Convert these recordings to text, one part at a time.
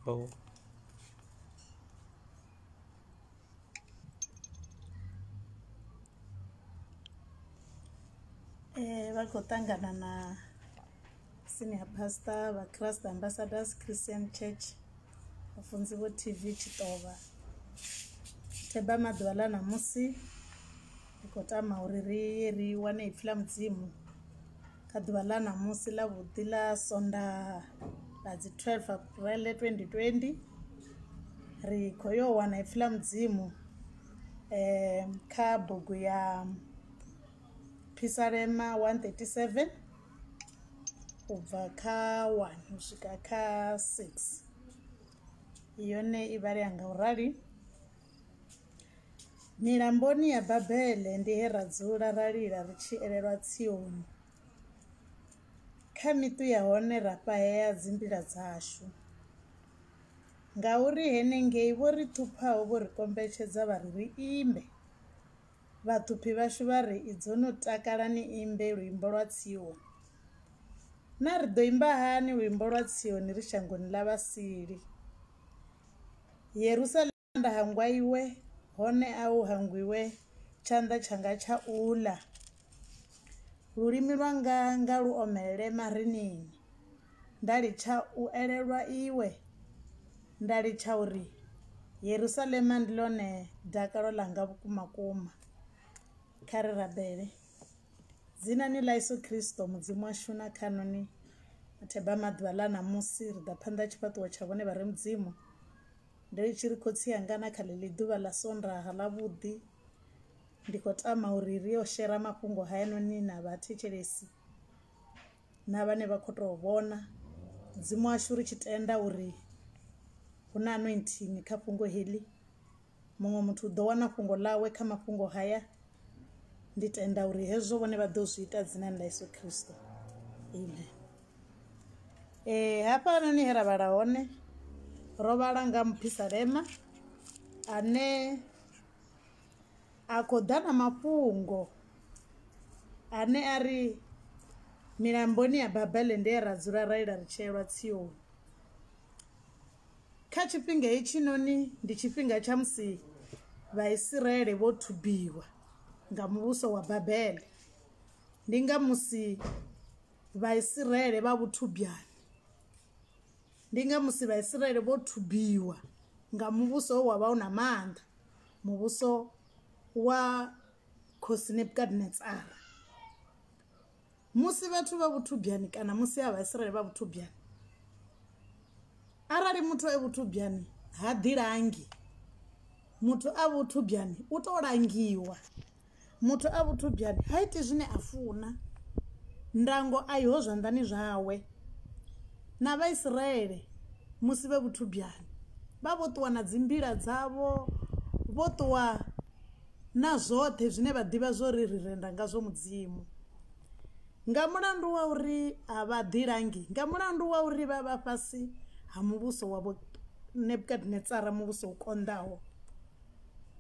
bow Eh, vha khou ṱangana na senior pastor vha christ ambassadors christian church vhafunzi vho tv tshitovha theba maḓuvha ḽa ṋamusi ri khou tama uri ri ye ri wane ipfi ḽa mudzimu kha ḓuvha ḽa ṋamusi ḽa vhuḓi ḽa sondaha ḽa dzi 12 april 2020 ri khou yo wana ipfi ḽa mudzimu um kha bugu ya phisalema 137 u bva kha 1 u swika kha 6 yone i vhalea nga u rali Milamboni ya Babele ndi he ra dzula ra lila ri tshi elelwa tsioni, kha miṱu ya hone ra fhahea dzimbila dzashu. Ngauri henengei vho ri ṱhuphaho vho ri kombetshedza vha ri ri imbe, vhaṱhuphi vhashu vha ri, Idzo no takala ni imbe luimbo lwa Tsioni. Na ri ḓo imba hani luimbo lwa Tsioni ri shangoni ḽa vhasili? Yerusalema. Tshanḓa hangwa iwe, hone a u hangwiwe tshanḓa tshanga tsha u ḽa, lulimi lwanga nga lu omelele marinini, nda litsha u elelwa iwe, nda litsha uri Yerusalema ndi ḽone dakalo ḽanga vhukuma kuma. Kha ri rabele. Dzinani ḽa Yeso Khristo Mudzimu washu na khaṋo ni matheba a maḓuvha ḽa ṋamusi ri ḓa phanḓa ha tshifhaṱuwo tsha vhone vha re Mudzimu. Ndo ri tshi ri khotsi anga na kha ḽeḽi ḓuvha ḽa sondaha ḽavhuḓi ndi khou tama uri ri yo shera mafhungo hayanoni na vhathetshelesi na vhane vha khou tou vhona mudzimu washu ri tshi tenda uri hu na anointing kha fhungo heḽi muṅwe muthu u ḓo wana fhungo ḽawe kha mafhungo haya ndi tenda uri hezwo vhone vha ḓo zwi ita dzinani ḽa yesu kristo amen Eh hafhanoni he ra vhala hone ro vhala nga muphisalema ane a khou ḓa na mafhungo ane a ri milamboni ya babele nde ra dzula ra ila ri tsheelwa tsioni kha tshifhinga hetshinoni ndi tshifhinga tsha musi vhaisiraele vho thubiwa nga muvhuso wa babele ndi nga musi vhaisiraele vha vhuthubyani ndi nga musi vhaisiraele vho thubiwa nga muvhuso wa vha u na maanḓa muvhuso wa khosi nebukadnetsara musi vhathu vha vhuthubyani kana musi ha vhaisiraele vha vhuthubyani arali muthu e vhuthubyani ha ḓilangi muthu a vhuthubyani u to langiwa Muthu a vhuthubyani ha iti zwine a funa, ndango a i ho zwanḓani zwawe. Na Vhaisraele musi vhe vhuthubyani, vha vho ṱuwa na dzimbila dzavho, vho ṱuwa na zwoṱhe zwine vha ḓivha zwo ri ri renda ngazwo Mudzimu. Nga mulandu wa uri a vha ḓilangi, nga mulandu wa uri vha vha fhasi ha muvhuso wa Vho Nebukadnetsara, muvhuso u konḓaho.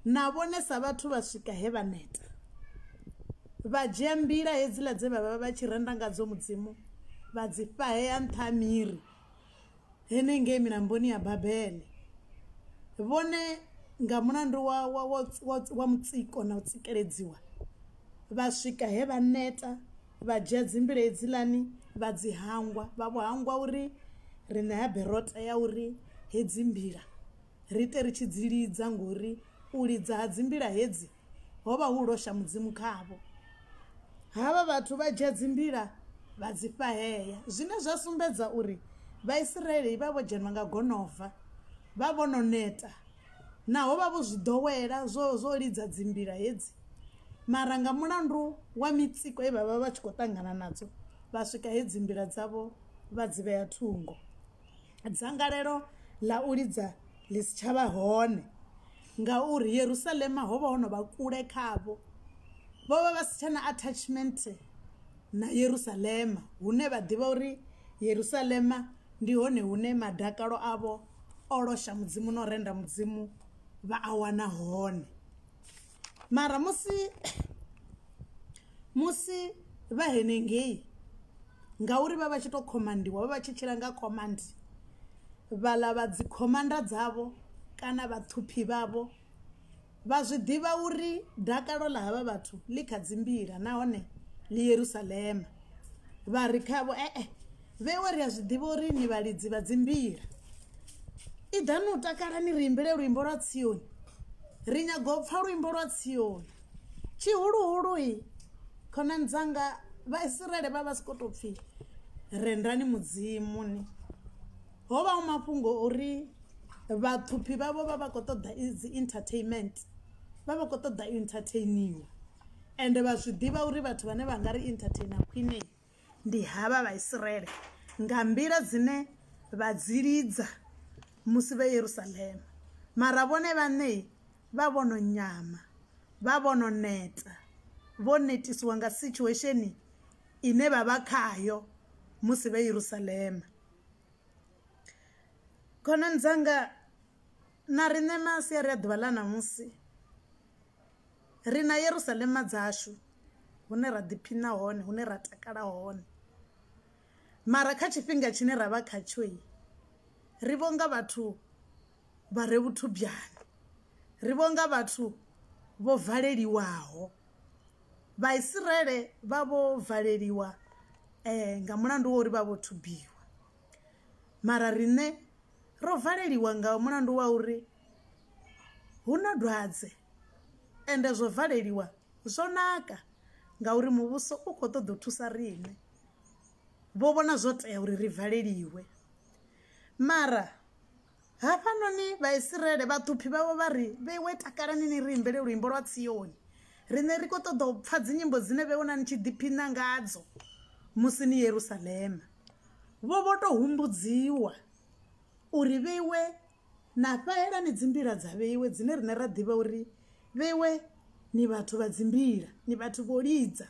Na vhonesa vhathu vha swika he vha neta, vha dzhia mbila hedziḽa dze vha vha vha tshi renda ngadzo Mudzimu vha dzi fhahea nṱha ha miri henengei milamboni ya Babele. Vhone nga mulandu wa, wa, wa, wa, wa mutsiko na u tsikeledziwa, vha swika he vha neta, vha dzhia dzimbila hedziḽani vha dzi hangwa, vha vho hangwa uri ri ṋea berota ya uri hedzi mbila. ri te ri tshi dzi lidza, ngori u lidza ha dzimbila hedzi ho vha hu losha Mudzimu khavho. Havha vhathu vha dzhia dzimbila vha dzi fhahea, zwine zwa sumbedza uri Vhaisiraele vha vho dzhenwa nga gonova, vha vho no neta naho vha vho zwi ḓowela zwo zwo lidza dzimbila hedzi. Mara nga mulandu wa mitsiko ye vha vha vha tshi khou ṱangana nadzo, vha swika he dzimbila dzavho vha dzi vhea thungo. dzangalelo ḽa u lidza ḽi si tsha vha hone ngauri Yerusalema ho vha ho no vha kule khavho. Vho vha vha si tsha na attachment na Yerusalema hune vha ḓivha uri Yerusalema ndi hone hune madakalo avho o losha mudzimu na u renda mudzimu vha a wana hone. mara musi musi vha henengei ngauri vha vha tshi to khomandiwa vha vha tshi tshila nga command vhaḽa vha dzi khomanda dzavho kana vhaṱhuphi vhavho vha zwi ḓivha uri dakalo ḽa havha vhathu ḽi kha dzimbila nahone ḽi yerusalema vha ri khavho ee eh, eh, Vhewe ri a zwi ḓivha uri ni vhalidzi vha dzimbila. Iḓani u takala ni ri imbele luimbo lwa Tsioni. Ri nyaga u pfa luimbo lwa Tsioni. Tshihuluhulu-i, khonani dzanga Vhaisiraele vha vha si khou tou pfi rendani Mudzimu ni. Ho vha hu mafhungo o uri vhaṱhuphi vhavho vha vha khou ṱoḓa dzi entertainment, vha vha khou ṱoḓa u entertainiwa ende vha zwi ḓivha uri vhathu vhane vha nga ri entertainer khwine. ndi havha vhaisraele nga nḓila dzine vha dzi lidza musi vhe yerusalema mara vhone vhaṋe vha vhono nyama vha vhono neta vho netisiwa nga situation ine vha vha khayo musi vhe yerusalema khonani dzanga na riṋe masiari a ḓuvha ḽa ṋamusi Ri na Yerusalema dzashu hune ra ḓiphina hone, hune ra takala hone. Mara kha tshifhinga tshine ra vha khatsho, ri vho nga vhathu vha re vhuthubyani, ri vho nga vhathu vho valeliwaho. Vhaisraele vha vho valeliwa nga mulandu wa uri vha vho thubiwa, mara riṋe ro valeliwa nga mulandu wa uri hu na dwadze. ende zwo valeliwa zwo naka ngauri muvhuso u khou ṱoḓa u thusa riṋe vho vhona zwo tea uri ri valeliwe mara hafhanoni vhaisraele vhaṱhuphi vhavho vha ri vheiwe takalani ni ri imbele luimbo lwa tsioni riṋe ri khou ṱoḓa u pfha dzinyimbo dzine vhe wona ni tshi ḓiphina ngadzo musi ni yerusalema vho vho tou humbudziwa uri vheiwe Na fhaela ni dzimbila dza vheiwe dzine rine ra ḓivha uri vheiwe ni vhathu vha dzimbila, ni vhathu vho lidza.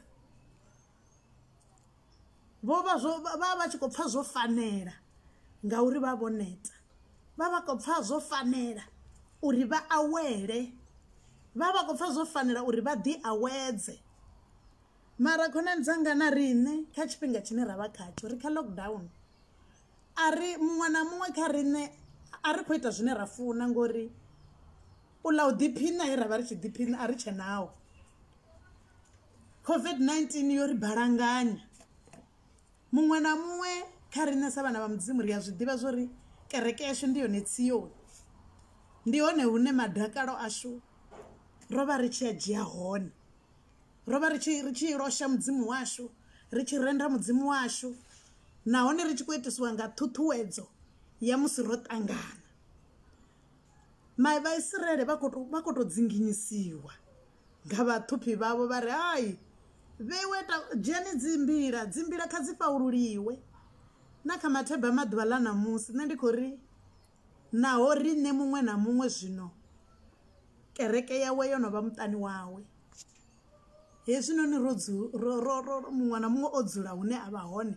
Vho vha zwo vha vha tshi kho pfha zwo fanela ngauri vha vho neta. Vha vha kho pfha zwo fanela uri vha awele vha vha kho pfha zwo fanela uri vha ḓi awedze. Mara khonani dzanga na riṋe kha tshifhinga tshine ra vha khatsho ri kha lockdown. a ri muṅwe na muṅwe kha riṋe a ri khou ita zwine ra funa ngori u ḽa u ḓiphiṋa he ra vha ri tshi ḓiphiṋa a ri tshe naho covid-19 yo ri balanganya muṅwe na muṅwe kha riṋe sa vhana vha mudzimu ri a zwi ḓivha zwo ri kereke yashu ndi yone tsiyoni ndi hone hune madakalo ashu ro vha ri tshi a dzhia hone ro vha ri tshi ri tshi losha mudzimu washu ri tshi renda mudzimu washu nahone ri tshi khou itisiwa nga ṱhuṱhuwedzo ya musi ro ṱangana mai vhaisraele vha khou tou dzinginyisiwa nga vhaṱhuphi vhavho vha ri hai vheiwe dzheni dzimbila dzimbila kha dzi fhaululiwe na kha matheba maḓuvha ḽa ṋamusi nṋe ndi khou ri naho riṋe muṅwe na muṅwe zwino kereke yawe yo no vha muṱani wawe Hezwinoni ro dzu ro ro ro muṅwe na muṅwe o dzula hune a vha hone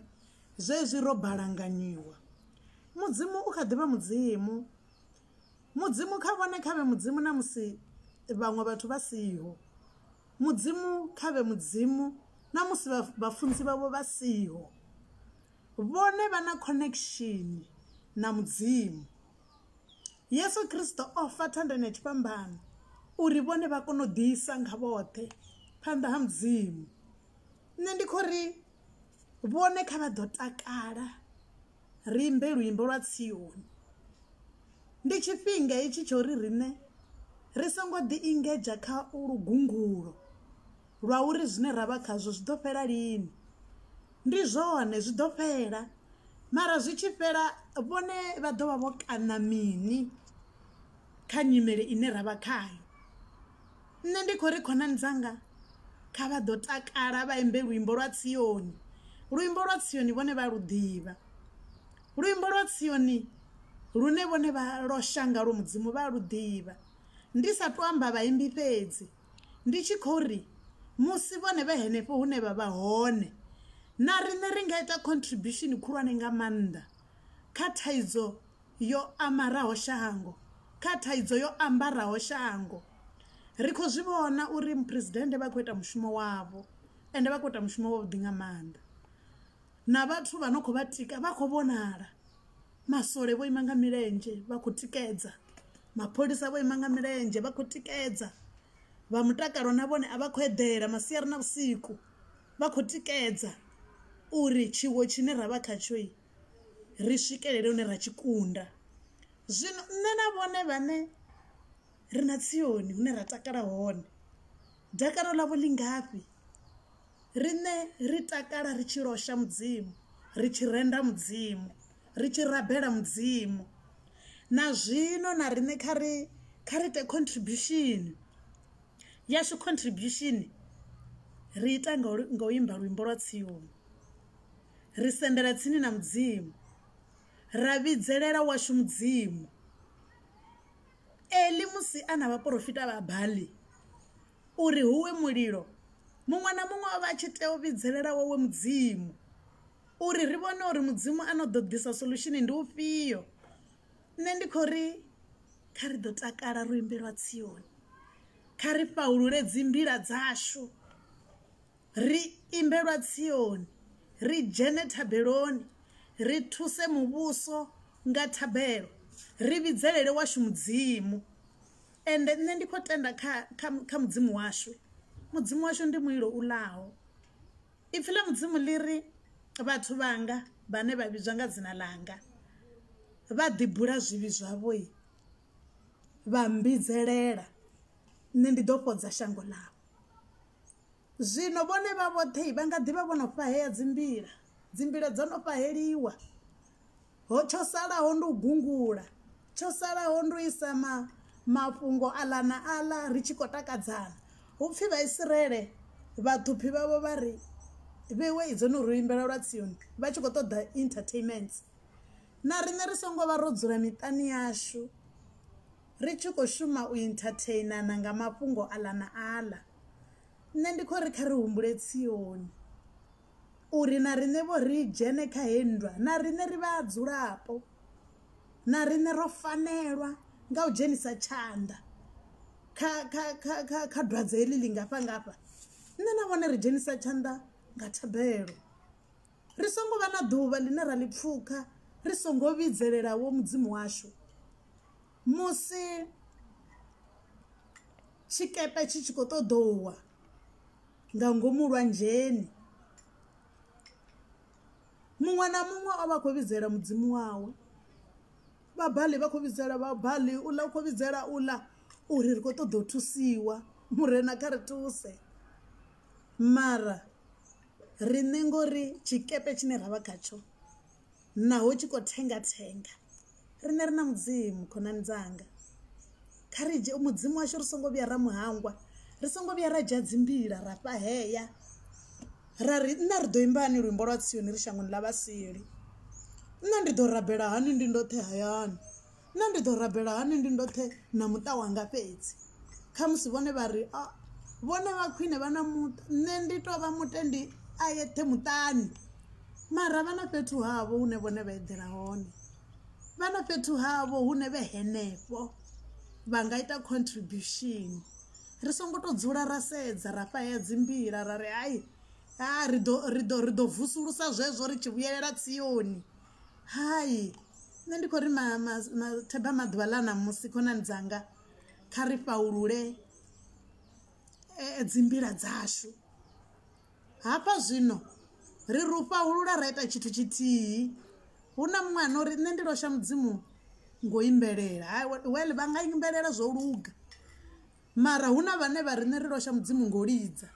zwezwi ro balanganyiwa mudzimu u kha ḓivha mudzimu mudzimu kha vhone khavhe mudzimu na musi vhaṅwe vhathu vha siho mudzimu khavhe mudzimu na musi vhafunzi vhavho vha siho vhone vha na connection na mudzimu. Yesu Kristo o fa thandani ya tshifhambano uri vhone vha kone u ḓisa nga vhoṱhe phanḓa ha mudzimu nṋe ndi khou ri vhone kha vha ḓo takala ri imbe luimbo lwa tsioni ndi tshifhinga hetshi tsho ri riṋe ri songo ḓi ingedzha kha lugungulo lwa uri zwine ra vha khazwo zwi ḓo fhela lini ndi zwone zwi ḓo fhela mara zwi tshi fhela vhone vha ḓo vha vho kaṋa mini kha nyimele ine ra vha khayo nṋe ndi khou ri khonani dzanga kha vha ḓo takala vha imbe luimbo lwa tsioni luimbo lwa tsioni vhone vha lu ḓivha luimbo lwa tsioni lune vhone vha losha ngalwo mudzimu vha lu ḓivha ndi sa tou amba vhaimbi fhedzi Ndi tshi khou ri, Musi vhone vhe henefho hune vha vha hone, na riṋe ri nga ita khontribishini khulwane nga maanḓa kha thaidzo yo amaraho shango, kha thaidzo yo ambaraho shango. Ri khou zwi vhona uri Muphuresidennde vha khou ita mushumo wavho, ende vha khou ita mushumo wavhuḓi nga maanḓa. Na vhathu vha no khou vha tika vha khou vhonala. Maswole vho ima nga milenzhe vha khou tikedza, mapholisa vho ima nga milenzhe vha khou tikedza, vha mutakalo na vhone a vha khou eḓela masiari na vhusiku vha khou tikedza uri tshiwo tshine ra vha khatsho ri swikelele hune ra tshi kunda. Zwino nṋe na vhone vhane ri na Tsioni hune ra takala hone, dakalo ḽavho ḽi ngafhi? Riṋe ri takala ri tshi losha Mudzimu, ri tshi renda Mudzimu, ri tshi rabela Mudzimu. Na zwino na riṋe kha ri kha ri ite contribution yashu contribution ri ita nga nga u imba luimbo lwa tsioni ri sendela tsini na Mudzimu ra vhidzelela washu Mudzimu. Eli musi a na vhaporofita vha Baali. uri huwe mulilo muṅwe na muṅwe o vha a tshi tea u vhidzelela wawe mudzimu uri ri vhone uri mudzimu a no ḓo ḓisa solution ndi ufhio nṋe ndi khou ri kha ri ḓo takala ro imbelwa tsioni kha ri fhaulule dzi mbila dzashu ri imbelwa tsioni ri dzhene thabeloni ri thuse muvhuso nga thabelo ri vhidzelele washu mudzimu Ende nṋe ndi khou tenda kha, kha, kha Mudzimu washu. Mudzimu washu ndi mulilo u ḽaho. Ipfi ḽa Mudzimu ḽi ri, Vhathu vhanga vhane vha vhidzwa nga dzina ḽanga vha ḓibula zwivhi zwavho vha mmbidzelela nṋe, ndi ḓo fhodza shango ḽavho. Zwino vhone vha vhoṱhe vha nga ḓi vha vho no fhahea dzimbila, dzimbila dzo no fhaheliwa. ho tsho salaho ndi u gungula tsho salaho ndi u isa ma mafhungo aḽa na aḽa ri tshi khou takadzana hu pfhi vhaisraele vhaṱhuphi vhavho vha ri vhewe idzo no ri imbela lwa tsioni vha tshi khou ṱoḓa entertainment na riṋe ri songo vha ro dzula miṱani yashu ri tshi khou shuma u entertainana nga mafhungo aḽa na aḽa nṋe ndi khou ri kha ri humbule tsioni uri na riṋe vho ri dzhene kha heyi nndwa na riṋe ri vha dzulapo na riṋe ro fanelwa nga u dzhenisa tshanḓa kha kha kha kha kha dwadze heḽi ḽi ngafha ngafha nṋe na vhone ri dzhenisa tshanḓa nga thabelo ri songo vha na ḓuvha ḽine ra ḽi pfukha ri songo vhidzelela wo mudzimu washu musi tshikepe tshi tshi khou ṱoḓouwa nga ngomu lwanzheni. Muṅwe na muṅwe o vha a khou vhidzela mudzimu wawe vha Baali vha khou vhidzela vha Baali u ḽa u khou vhidzela u ḽa uri ri khou ṱoḓa u thusiwa murena kha ri thuse mara riṋe ngori tshikepe tshine ra vha khatsho. Naho u tshi khou thenga-thenga, riṋe ri na Mudzimu, khonani dzanga. Kha ri dzhie Mudzimu washu ri songo vhuya ra mu hangwa, ri songo vhuya ra dzhia dzimbila ra fhahea, ra ri, Nṋe ri ḓo imba hani luimbo lwa Tsioni ri shangoni ḽa vhasili? Nṋe ndi ḓo rabela hani ndi ndoṱhe hayani? Nṋe ndi ḓo rabela hani ndi ndoṱhe na muṱa wanga fhedzi khamusi vhone vha ri a vhone vha khwine vha na muṱa nṋe ndi to vha mutendi a yeṱhe muṱani mara vha na fhethu havho hune vhone vha eḓela hone vha na fhethu havho hune vhe henefho vha nga ita contribution ri songo to dzula ra sedza ra fhaya dzi mbila ra ri hai ha ri ḓo ri ḓo ri ḓo vusulusa zwezwo ri tshi vhuyelela tsioni. Hai nṋe ndi khou ri ma ma ma themba maḓuvha ḽa ṋamusi khonani dzanga kha ri fhaṱulule dzi mbila dzashu hafha zwino ri ri u fhaṱulula ra ita tshithu tshithihi hu na muṅwe ane uri nṋe ndi losha mudzimu ngo imbelela well vha nga imbelela zwo luga. Mara hu na vhane vha riṋe ri losha Mudzimu ngo lidza.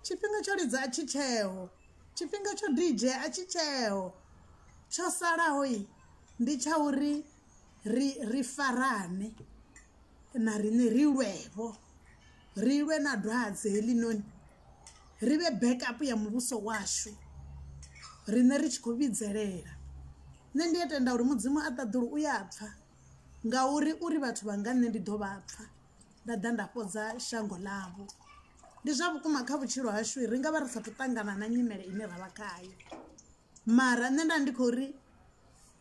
Tshifhinga tsho lidza a tshi tsheho. Tshifhinga tsho DJ a tshi tsheho. Tsho salaho ndi tsha uri ri ri farane na riṋe ri lwevho. Ri lwe na dwadze heḽinoni. Ri vhe backup ya muvhuso washu riṋe ri tshi khou vhidzelela. Nṋe ndi a tenda uri Mudzimu a ṱaḓulu u ya pfha ngauri uri vhathu vha nga nṋe ndi ḓo vha pfha. nda ḓa nda fhodza shango ḽavho ndi zwa vhukuma kha vhutshilo hashu ri nga vha ri sathu ṱangana na nyimele ine ra vha khayo mara nṋe nda ndi khou ri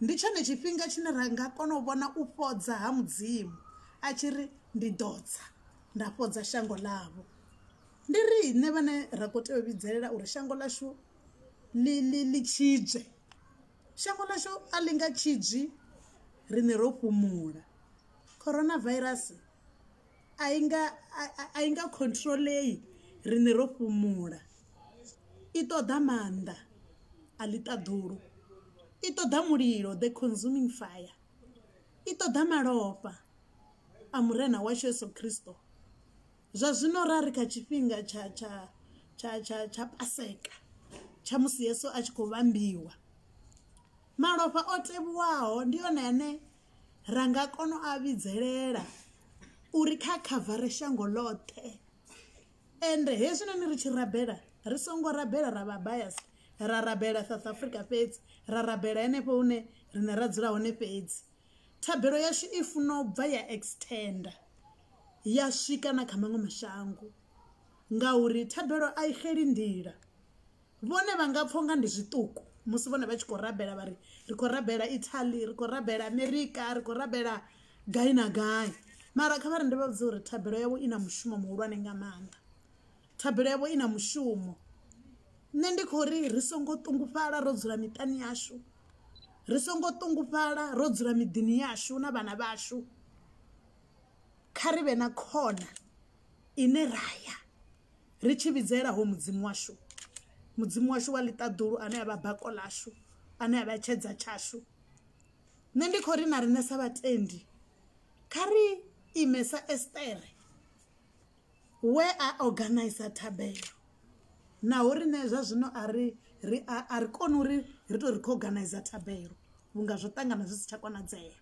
ndi tshone tshifhinga tshine ra nga kona u vhona u fhodza ha mudzimu a tshi ri ndi ḓo tsa nda fhodza shango ḽavho ndi ri nṋe vhane ra khou tea u vhidzelela uri shango ḽashu ḽi ḽi ḽi tshidzwe shango ḽashu a ḽi nga tshidzwi riṋe ro fhumula coronavirus a i nga a i nga controlei riṋe ro fhumula i ṱoḓa maanḓa a ḽi ṱaḓulu i ṱoḓa mulilo the consuming fire i ṱoḓa malofha a murena washu yeso khristo zwa zwino ra ri kha tshifhinga tsha tsha tsha tsha tsha paseka tsha musi yeso a tshi khou vhambiwa malofha o tevhuwaho ndi one ane ra nga kona u a vhidzelela uri kha khavare shango ḽoṱhe ende hezwinoni ri tshi rabela ri songo rabela ra vha bias ra rabela south africa fhedzi ra rabela henefho hune rine ra dzula hone fhedzi thabelo yashu i funa u bva ya extenda ya swika na kha maṅwe mashango ngauri thabelo a i xeli nḓila Vhone vha nga pfa unga ndi zwiṱuku musi vhone vha tshi khou rabela vhari ri khou rabela Italy ri khou rabela America ri khou rabela gai na gai mara kha vhari ndi vha vhudza uri thabelo yavho i na mushumo muhulwane nga maanḓa thabelo yavho i na mushumo nṋe ndi khou ri ri songo ṱungufhala ro dzula miṱani yashu ri songo ṱungufhala ro dzula miḓini yashu na vhana vhashu kha ri vhe na khona ine ra ya. ri tshi vhidzela ho mudzimu washu mudzimu washu wa ḽiṱaḓulu ane avha bako ḽashu ane avha tshedza tshashu nṋe ndi khou ri na riṋe sa vhatendi kha ri ime sa estere we a organizer thabelo naho riṋe zwa zwino a ri ri a ri koni uri ri to ri khou organizer thabelo vhunga zwo ṱangana zwi si tsha konadzea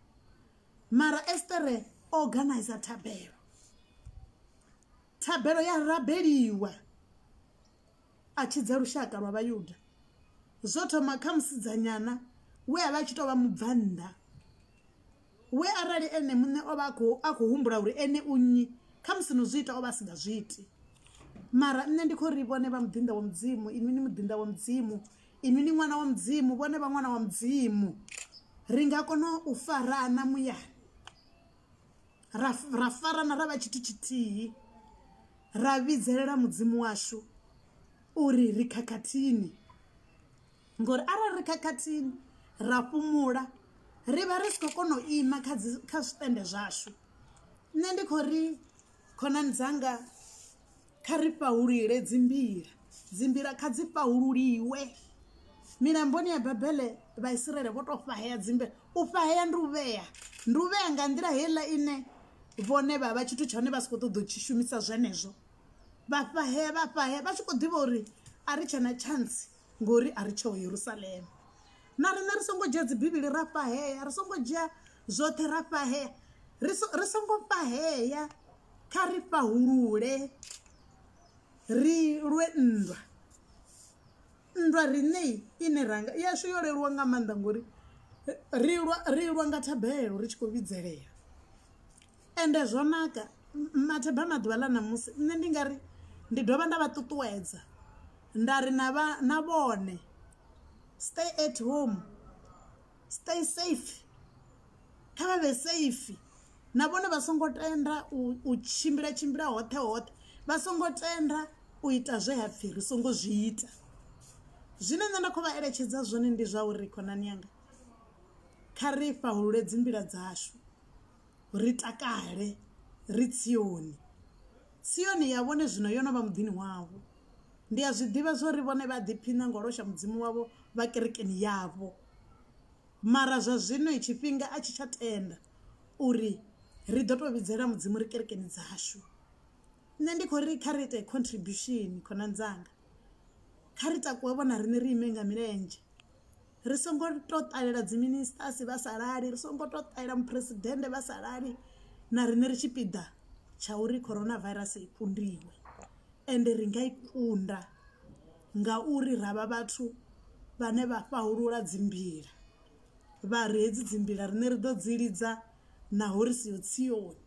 mara estere o organizer thabelo Thabelo ya rabeliwa a tshidza lushaka lwa Vhayuda. Zwo thoma kha musidzanyana we a vha a tshi tou vha mubvannḓa we arali ene muṋe o vha a khou humbula uri ene u nnyi kha musi no zwi ita o vha a si nga zwi iti mara nṋe ndi khou ri vhone vha muḓinḓa wa mudzimu inwi ni muḓinḓa wa mudzimu inwi ni ṅwana wa mudzimu vhone vha ṅwana wa mudzimu ri nga kona u farana muyani ra farana ra vha tshithu tshithihi ra vhidzelela mudzimu washu uri ri khakhathini ngori arali ri khakhathini ra fhumula ri vha ri si khou kona u ima kha dzi kha zwitende zwashu nṋe ndi khou ri khonani dzanga Kha ri fhahulule dzimbila, dzimbila kha dzi fhahululiwe. Milamboni ya Babele Vhaisiraele vho tou fhahea dzimbila. U fhahea ndi u vhea, ndi u vhea nga nḓila heiḽa ine vhone vha vha tshithu tsha hone vha si khou ṱoḓa u tshi shumisa zwenezwo. Vha fhahea vha fhahea vha tshi khou ḓivha uri a ri tshe na tshantsi. ngori a ri tsheho yerusalema na riṋe ri songo dzhia dzibivhili ra fhahea ri songo dzhia zwoṱhe ra fhahea ri songo fhahea kha ri fhahulule ri lwe nndwa nndwa riṋe ine ranga yashu yo leluwa nga maanḓa ngori ri lwa ri lwa nga thabelo ri tshi khou vhidzelela ende zwo naka matheba maḓuvha ḽa ṋamusi nṋe ndi nga ri ndi dovha nda vha ṱuṱuwedza nda ri na vha na vhone stay at home stay safe kha vha vhe safe na vhone vha songo tenda u tshimbila tshimbila hoṱhe hoṱhe vha songo tenda u ita zwe ha pfhi ri songo zwi ita zwine nṋe nda khou vha eletshedza zwone ndi zwa uri khonani yanga kha ri fhahulule dzi nḓila dzashu ri takale ri tsioni tsioni ya vhone zwino yo no vha muḓini wavho ndi a zwi ḓivha zwori vhone vha ḓiphiṋa ngo losha mudzimu wavho vha kerekeni yavho mara zwa zwino tshifhinga a tshi tsha tenda uri ri ḓo tou vhidzela mudzimu ri kerekeni dzashu nṋe ndi khou ri kha ri ite contribution khonani dzanga kha ri takuwe vhona riṋe ri ime nga milenzhe ri songo to ṱalela dzi ministers vha sa lali ri songo to ṱalela muphuresidennde vha sa lali na riṋe ri tshipiḓa tsha uri coronavirus i kundiwe ende ri nga i kunda ngauri ra vha vhathu vhane vha fhahulula dzimbila vha ri hedzi dzimbila riṋe ri ḓo dzi lidza naho ri siho tsioni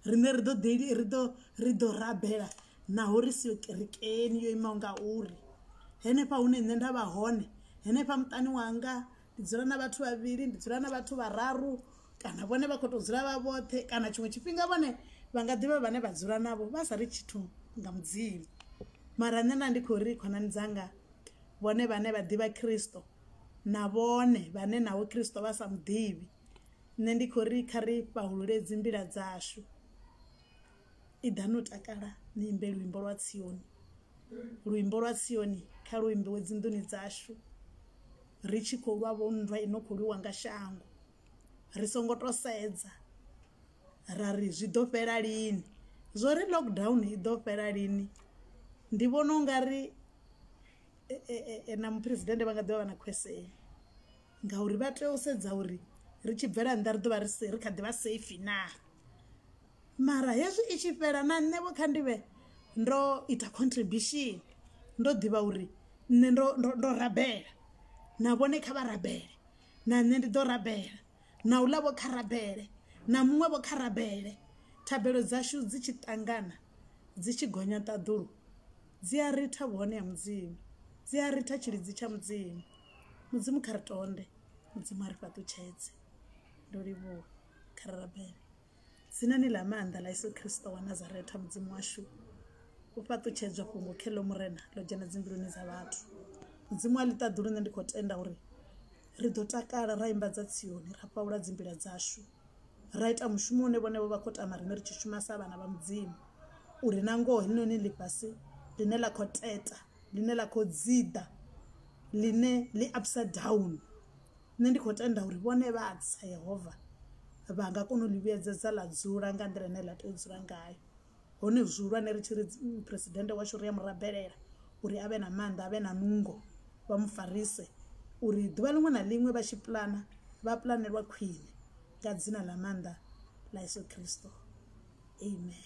riṋe ri ḓo ḓi ri ḓo ri ḓo rabela naho ri siyo kerekeni yo imaho nga uri henefha hune nṋe nda vha hone henefha muṱani wanga ndi dzula na vhathu vhavhili ndi dzula na vhathu vhararu kana vhone vha khou tou dzula vha vhoṱhe kana tshiṅwe tshifhinga vhone vha nga ḓivha vhane vha dzula navho vha sa ri tshithu nga mudzimu mara nṋe nda ndi khou ri khonani dzanga vhone vhane vha ḓivha khristo na vhone vhane naho khristo vha sa muḓivhi nṋe ndi khou ri kha ri fhahulule dzi mbila dzashu Iḓa no takala ni imbe luimbo lwa Tsioni, luimbo lwa Tsioni kha lu imbiwe dzinḓuni dzashu, ri tshi khou lwa vho nndwa i no khou lwiwa nga shango, ri songo to sedza ra ri zwi ḓo fhela lini, zwo ri lockdown i ḓo fhela lini ndi vhona u nga ri na muphuresidennde vha nga ḓivha vha na khwese ngauri vha tea u sedza uri ri tshi bvela nnḓa ri ḓo vha ri kha ḓi vha safe naa. mara hezwi i tshi fhela na nṋe vho kha ndi vhe ndo ita contribution ndo ḓivha uri nṋe ndo ndo ndo rabela na vhone kha vha rabele na nṋe ndi ḓo rabela na u ḽa vho kha rabele na muṅwe vho kha rabele thabelo dzashu dzi tshi ṱangana dzi tshi gonya ṱaḓulu dzi a ritha vhuhone ha mudzimu dzi a ritha tshilidzi tsha mudzimu mudzimu kha ri tonde mudzimu a ri fhaṱutshedze ndo livhuwa kha ri rabele Dzinani ḽa maanḓa ḽa Yesu Kristo wa Nazareta Mudzimu washu u fhaṱutshedzwa fhungo kheḽo murena ḽo dzhena dzimbiluni dza vhathu Mudzimu a ḽi ṱaḓulu nṋe ndi khou tenda uri ri ḓo takala ra imba dza Tsioni ra fhaula dzimbila dzashu ra ita mushumo une vhone vho vha khou tama riṋe ri tshi shuma sa vhana vha Mudzimu uri na ngoho heḽinoni ḽifhasi ḽine ḽa khou teta ḽine ḽa khou dziḓa ḽine ḽi upside down Nṋe ndi khou tenda uri vhone vha tsa Yehova vha nga kona u ḽi vhuyedzedza ḽa dzula nga nḓila ine ḽa tea u dzula ngayo. Hone zwihulwane ri tshi ri Phresidennde washu ri a mu rabelela uri a vhe na maanḓa, a vhe na nungo, vha mu farise uri ḓuvha ḽiṅwe na ḽiṅwe vha tshi puḽana vha puḽanelwa khwine nga dzina ḽa maanḓa ḽa Yeso Khristo. Amen.